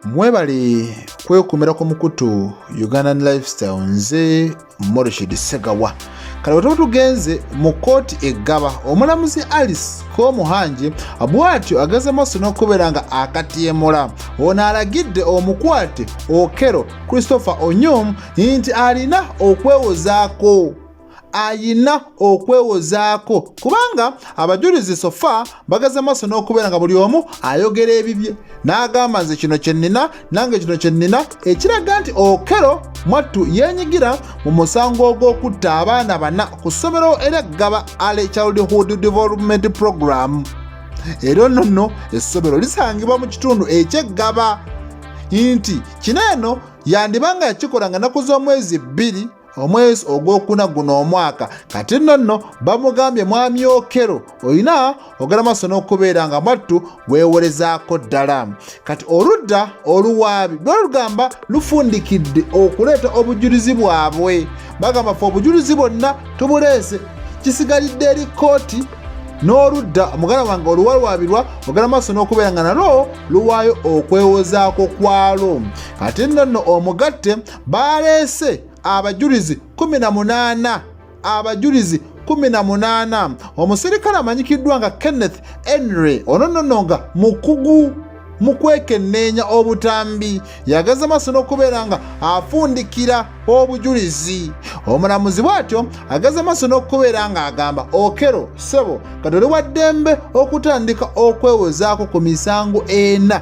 mwebale kwekumira ku mukutu ugandan lifestyle nze morishid segawa kale wetaba tugenze mu kooti eggaba omulamuzi alice komuhangi bwatyo ageze maaso n'okubeera nga akatyemula ono alagidde omukwate okero christopher onyum nti alina okwewozaako ayina okwewozaako kubanga abajulizi sofa bagaze maaso n'okubeera nga buli omu ayogera ebibye n'agamba nze kino kye nnina nange kino kye nnina ekiraga nti okero mwattu yeenyigira mu musango ogw'okutta abaana bana ku ssomero era gaba ale childhood development program era ono nno essomero lisangibwa mu kitundu ekyeggaba nti kino eno yandiba nga yakikola nga naku z'omwezi bbiri omwezi ogwokuna guno omwaka kati nno nno bamugambye mwami okero olina ogala maaso n'okubeera nga mwattu weewolezaako ddala kati oludda oluwaabi lwalugamba lufundikidde okuleeta obujulizi bwabwe bagamba fe obujulizi bwonna tubuleese kisigalidde eri kkooti n'oludda omugala wange oluwalwabirwa ogala maaso n'okubeera nga nalwo luwaayo okwewozaako kwalwo kati nno nno omugatte baaleese abajulizi kumi na munaana abajulizi kumi na munaana omusirikale amanyikiddwa nga kenneth henry ono nono nga mukugu mu kwekenneenya obutambi yageza maaso n'okubeera nga afundikira obujulizi omulamuzi bw'atyo ageza maaso n'okubeera ng'agamba okero sebo katoli wa ddembe okutandika okwewozaako ku misango ena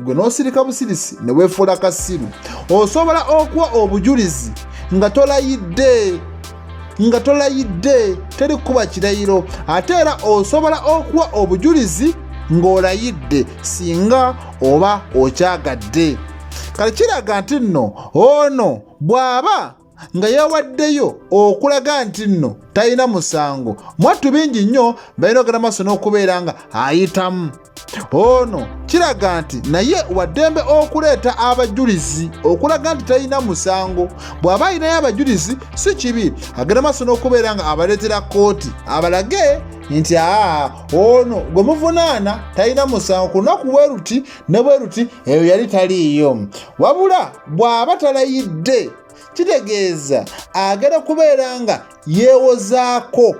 gwe n'osirika busirisi ne weefuula kasiru osobola okuwa obujulizi nga tolayidde nga tolayidde teri kukuba kirayiro ate era osobola okuwa obujulizi ng'olayidde singa oba okyagadde kati kiraga nti nno ono bw'aba nga yawaddeyo okulaga nti nno talina musango mwattu bingi nnyo balina ogenda maaso n'okubeera nga ayitamu ono kiraga nti naye waddembe okuleeta abajulizi okulaga nti talina musango bw'aba alinayo abajulizi si kibi agenda maaso n'okubeera nga abaleetera kkooti abalage nti aa ono gwe muvunaana talina musango ku lunaku bwe luti ne bwe luti eyo yali taliiyo wabula bw'aba talayidde kitegeeza agenda kubeera nga yeewozaako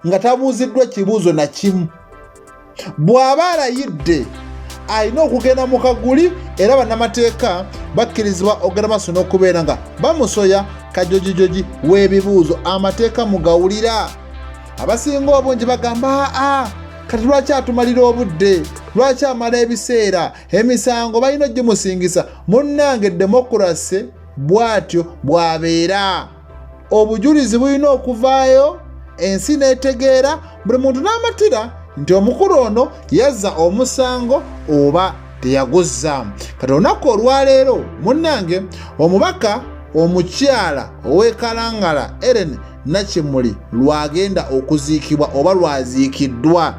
nga tabuuziddwa kibuuzo na kimu bw'aba alayidde alina okugenda mu kaguli era bannamateeka bakkirizibwa okugenda maaso n'okubeera nga bamusoya kajojijoji w'ebibuuzo amateeka mugawulira abasinga obungi bagamba aa kati lwaki atumalira obudde lwaki amala ebiseera emisango balina ogimusingisa munnange demokurase bw'atyo bw'abeera obujulizi bulina okuvaayo ensi n'etegeera buli muntu n'amatira nti omukulu ono yazza omusango oba teyaguzza kati olunaku olwaleero munnange omubaka omukyala ow'ekalangala eren nakimuli lwagenda okuziikibwa oba lwaziikiddwa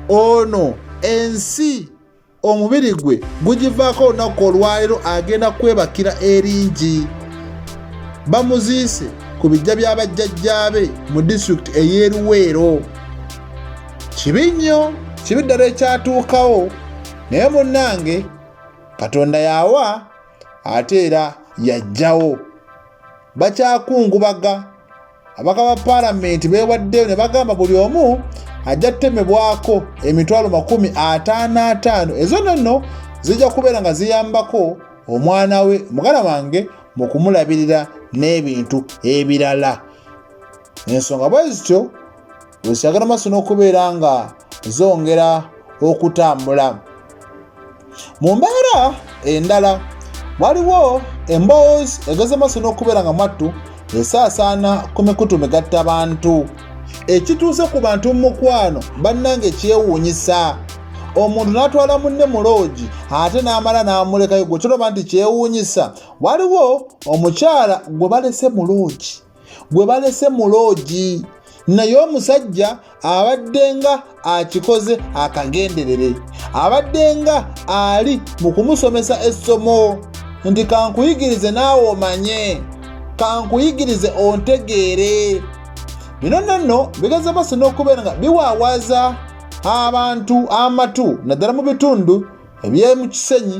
ono ensi omubiri gwe gugivaako olunaku olwaleero agenda kwebakira eringi bamuziise ku bijja bya bajjajjaabe mu disitulikiti ey'eruweero kibi nnyo kibi ddala ekyatuukawo naye munnange katonda yawa ate era yajjawo bakyakungubaga abaka ba paalamenti beewaddeyo ne bagamba buli omu ajja kutemebwako emitwalo makumi ataano ataano ezo nonno zijja kubeera nga ziyambako omwana we mugala wange mu kumulabirira n'ebintu ebirala ensonga bwe zityo wesagala maaso n'okubeera nga zongera okutambula mu mbeera endala waliwo emboozi egeze maaso n'okubeera nga mwattu esaasaana ku mikutu migatta bantu ekituuse ku bantu mu mukwano bannange kyewuunyisa omuntu n'atwala munne mu loogi ate n'amala n'amulekayo gwe kiraba nti kyewuunyisa waliwo omukyala gwe balese mu loogi gwe balese mu loogi naye omusajja abadde nga akikoze akagenderere abadde nga ali mu kumusomesa essomo nti kankuyigirize naawe omanye kankuyigirize ontegeere bino nonno bigeza basi n'okubeera nga biwaawaza abantu amatu naddala mu bitundu eby'emukisenyi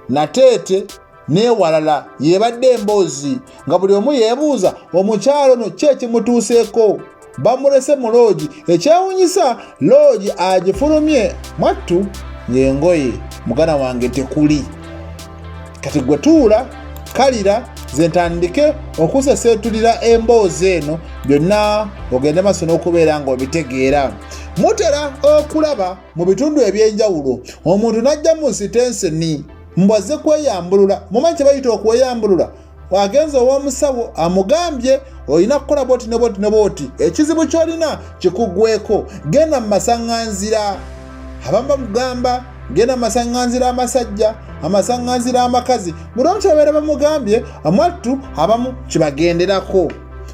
nateete n'ewalala yebadde emboozi nga buli omu yeebuuza omukyalo no ki ekimutuuseeko bamulese mu loogi ekyewunyisa loogi agifulumye mwattu ng'engoye mugana wange tekuli kati gwe tuula kalira ze ntandike okuseseetulira emboozi eno byonna ogende maaso n'okubeera ng'obitegeera mutera okulaba mu bitundu eby'enjawulo omuntu n'ajja mu sitenseni mbu azze kweyambulula mumanyi kyebayita okweyambulula agenze ow'omusawo amugambye olina kukola boti ne boti ne boti ekizibu kyolina kikugweko genda mu masaŋŋanzira abamu bamugamba genda mu masaŋŋanzira amasajja amasaŋŋanzira amakazi buli omu kyebabeera bamugambye amwattu abamu kibagenderako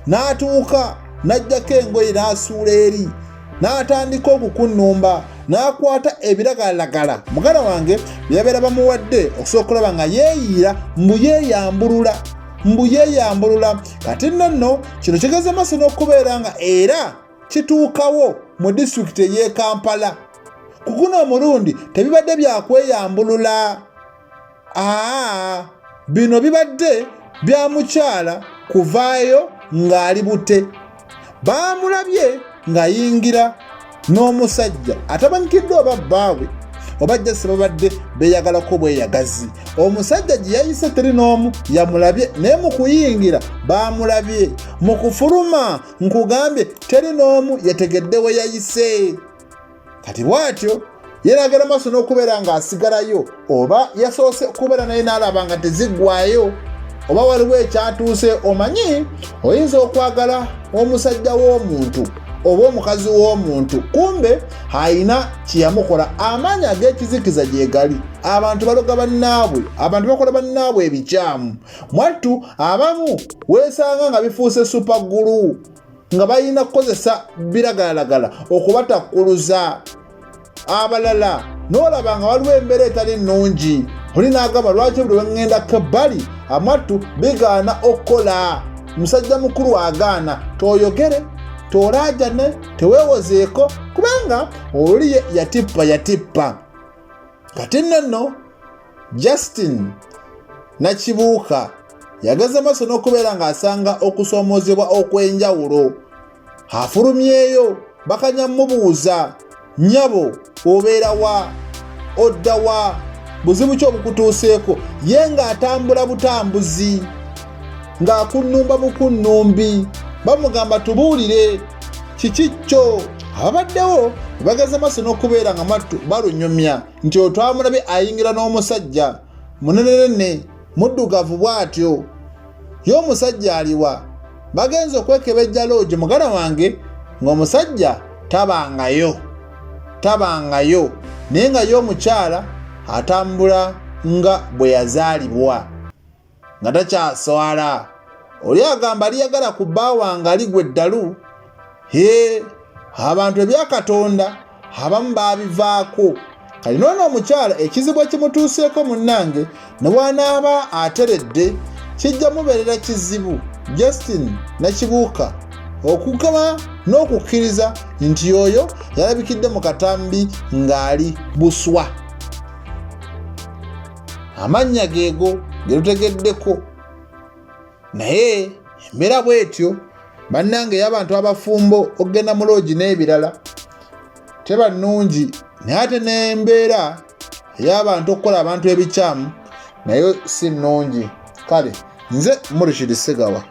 n'atuuka n'ajjako engoye n'asuula eri n'atandika okukunnumba n'akwata ebiragalalagala muganda wange byebabeera bamuwadde okusobola okulaba nga yeeyiira mbu yeeyambulula mbu yeeyambulula kati nno nno kino kigeze maaso n'okubeera nga era kituukawo mu disitulikiti ey'e kampala ku guno omulundi tebibadde byakweyambulula aa bino bibadde bya mukyala kuvaayo ng'ali bute baamulabye ng'ayingira n'omusajja atamanyikiddwa oba bbaabwe oba jasi babadde beyagalako bweyagazi omusajja gye yayise teri n'omu yamulabye naye mu kuyingira baamulabye mu kufuluma nkugambye teri n'omu yategedde we yayise kati bw'atyo yeeragala maaso n'okubeera ng'asigalayo oba yasoose okubeera naye n'alaba nga teziggwayo oba waliwo ekyatuuse omanyi oyinza okwagala omusajja w'omuntu oba omukazi w'omuntu kumbe alina kyeyamukola amaanyi ag'ekizikiza gyegali abantu baloga bannaabwe abantu bakola bannaabwe ebikyamu mwattu abamu weesanga nga bifuuse supaggulu nga balina kukozesa biragalalagala okubatakkuluza abalala n'olaba nga waliwo embeera etali nnungi oli n'agamba lwaki buli weŋŋendako ebbali amattu bigaana okukola musajja mukulu agaana toyogere tolaajane teweewozeeko kubanga oli yatippa yatippa kati nno nno Justin Nakibuuka yageze maaso n'okubeera ng'asanga okusoomoozebwa okw'enjawulo afulumyeyo bakanya mubuuza nyabo obeera wa odda wa buzibu ki obukutuuseeko ye ng'atambula butambuzi ng'akunnumba bukunnumbi bamugamba tubuulire kiki kyo ababaddewo bageze maaso n'okubeera nga mattu balunyumya nti otwamulabe ayingira n'omusajja munenenene muddugavu bw'atyo ye omusajja aliwa bagenze okwekebejja loogi mugala wange ng'omusajja tabangayo tabangayo naye nga ye omukyala atambula nga bwe yazaalibwa nga takyaswala oli agamba aliyagala ku bba wange aligwa eddalu he abantu ebyakatonda abamu baabivaako kati noona omukyala ekizibu ekimutuuseeko munnange ne wanaaba ateredde kijja mubeerera kizibu justin nakibuuka okugaba n'okukkiriza nti oyo yalabikidde mu katambi ng'ali buswa amannya geego ge lutegeddeko naye embeera bwetyo bannange y'abantu abafumbo okugenda mu loogi n'ebirala teba nnungi naye ate n'embeera ey'abantu okukola abantu ebikyamu nayo si nnungi kale nze murishidi segawa